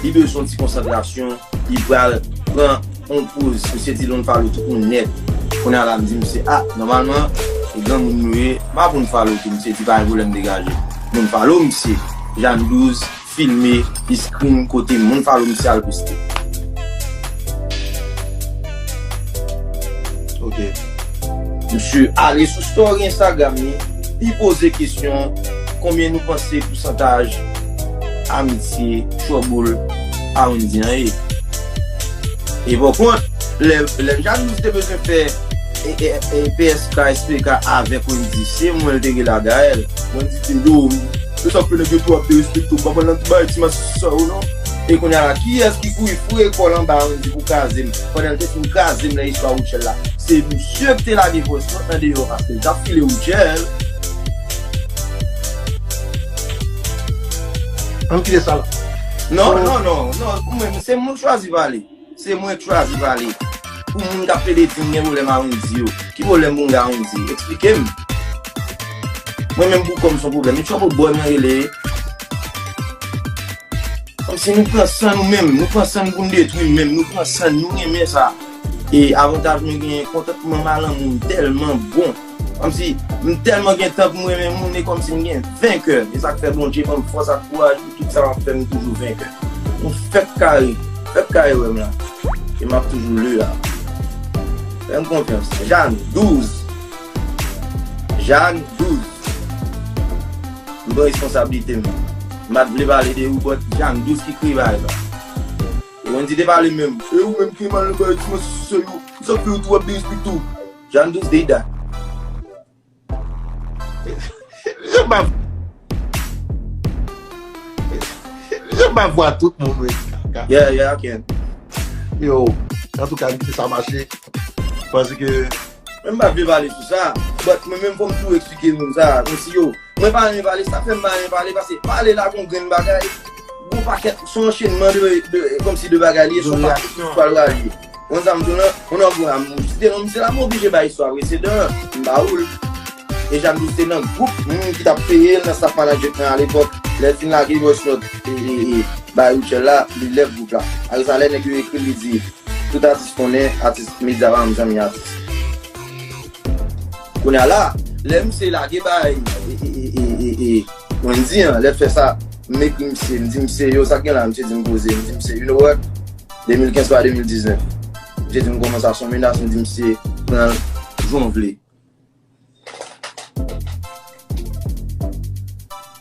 Li bezwen yon ti konsantrasyon, li pral pran yon poz, misye di don't follow tout moun nèt. Kounye a la m di misye, ah nòmalman se granmoun nou ye, m pa pou n follow tou, misye di pa gen pwoblèm degaje. Moun follow misye, Jane 12 filme, li screen kote moun follow misye al poste. Ok. Misye ale sou story Instagram li, li poze kesyon, konbyen nou panse pousantaj. Ah misye cho boul ah ou indien an ye. E pou kont, lè m Jalouse te bezwen fè PSK, SPK avèk Wendy, se mwen l te rele a Gaëlle. Wendy te di oh, se sa k fè nèg yo twò ap derespekte w, m pa pral nan ti bagay ti mas sa yo non. E kounya la, kiyès ki kouri foure kò l anba Wendy pou kraze m, pandan l te fin kraze m nan istwa Rutshelle la? Se misye k te lage vòs mwen andeyò paske l t ap file Rutshelle. Ann kite sa la. Non, non, non, non, ou menm, se moun chwazi pale. Se mwen k chwazi pale. Pou moun k ap plede di m gen pwoblèm a Wendyy yo, ki pwoblèm pou m gen a Wendyy? Eksplike m. Mwen menm pou kò m son pwoblèm. E Trouble Boy mwen rele e. Kòmsi nou pran san nou menm. Nou pran san nou pou n detwi n menm. Nou pran san nou. Nou renmen sa. E avantaj mwen genyen, kontantman m a lanmou m tèlman bon. Kòmsi m tèlman gen tan pou m renmen moun e kòmsi m gen venkè e sa k fè Bondje ban m fòs ak kouraj pou tout sa m ap fè m toujou venkè nou fèk kare fèk kare wè m la e m ap toujou le a fè m konfyans Jàn 12 Jàn 12 m pran responsablite m m pa t vle pale de ou bòt Jàn 12 ki kri vayb la e Wendy te pale menm e ou menm ki mal nan bagay ti manti sou sèl ou sa k fè ou tou ap derespekte w. Jan dous dey dat. Jan ba Jan ba vwa tout moun we ti kaka. Yeah yeah I can. Yo antouka m kite sa mache paske. Mwen pa vle pale sou sa. But mwen menm fòm tou eksplike moun sa. Konsi yo. Mwen pa renmen pale, sak fèm pa renmen pale pase pale la gon grenn bagay, gon pakèt son anchenman de komsi de bagay li e son pakèt tout pral ralye. Wè sa m di w lan, on an gwo am moun site non misye la m oblije bay istwa presedan an, m ba ou l. E Jacques Douste te nan gwoup moun ki t ap peye l nan staff management lan alepòk, lè l fin lage voice note e bay Rutshelle la, li lève gwoup la. Apre sa lè nèg yo ekri l li di, tout atis konnen atis medya pa janm zanmi atis. Kounye a la, lè misye lage bay Wendy an, lè l fè sa, m ekri misye, m di misye, yo sa k gen la? Misye di m poze, m di misye, you know what? 2015 pa 2019. Misye di m kòman sa, s on menas, m di misye, pran l jan w vle.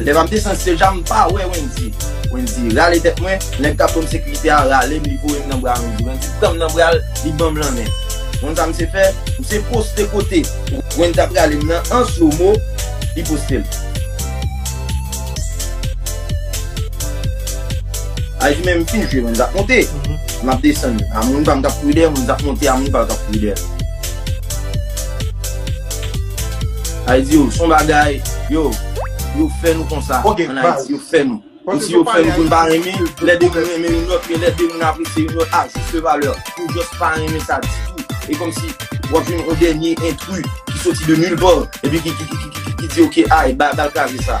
Lè map desann stage la m pa wè Wendy Wendy rale tèt mwen Nèg kap banm sekirite a ralem li voyem nan bra Wendy Wendy pranm nan bral li banm lanmen Ou konn sa misye fè Misye poste kote Wendy tap ralem nan an slow mo li postel Al di menm tou je Wendy tap monte Map desann a moun pam kap kouri dèyèm Wendy tap monte a moun pal kap kouri dèyèm. Ayiti yo son bagay yo yo fè nou konsa an ayiti yo fè nou yo si yo fè nou pou nou pa renmen lè de moun renmen yon lòt men lè de moun apresye yon lòt a juste valeur nou just pa renmen sa ditou e kòmsi wap jwenn yon dènye entri ki soti de nul part epi ki di ok ay bal kraze sa.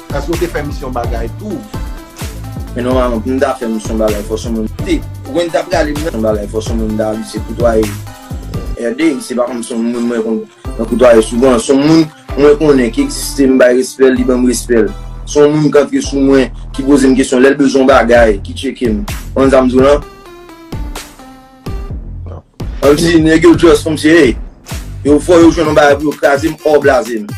Èske ou te fè misyon bagay tou? Men nòmalman pou m ta fè misyon bagay fò son moun te. Wè n ta prale m nan. Misyon bagay fò son moun ta li se koutwaye RD. Se pa kòm son moun mwen konn nan koutwaye souvan. Son moun mwen konnen ki egziste m bay respè l li ban m respè l. Son moun k antre sou mwen ki poze m kesyon lè l bezwen yon bagay ki tcheke m. Konprann sa m di w lan? An di nèg yo just kòmsi hey yo fò yo jwenn yon bagay pou yo kraze m or blaze m.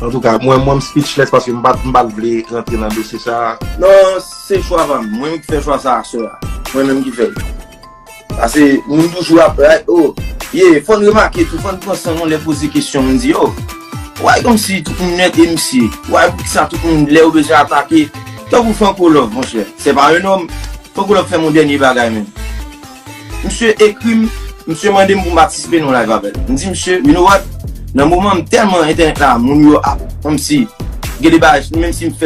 En tout cas, mwen mwen speechless paske m pat m pat vle rantre nan dosye sa. Non, se chwa pa m. Mwen menm ki fè chwa sa a sè a. Mwen menm ki fè l. Pase moun toujou ap bay oh ye fò n remake tou fò n pran san nou lè poze kesyon moun di oh why kòmsi tout moun mèt emsi why poukisa tout moun lè yo bezwen atake tankou Franco Love monchè se pa un homme Franco Love fè m yon dènye bagay menm. Misye ekri m, misye mande m pou m patisipe nan yon live avè l. M di misye, you know what, nan moman m tèlman entènèt la moun yo ap kòmsi gen de bagay sou m menm si m fè l.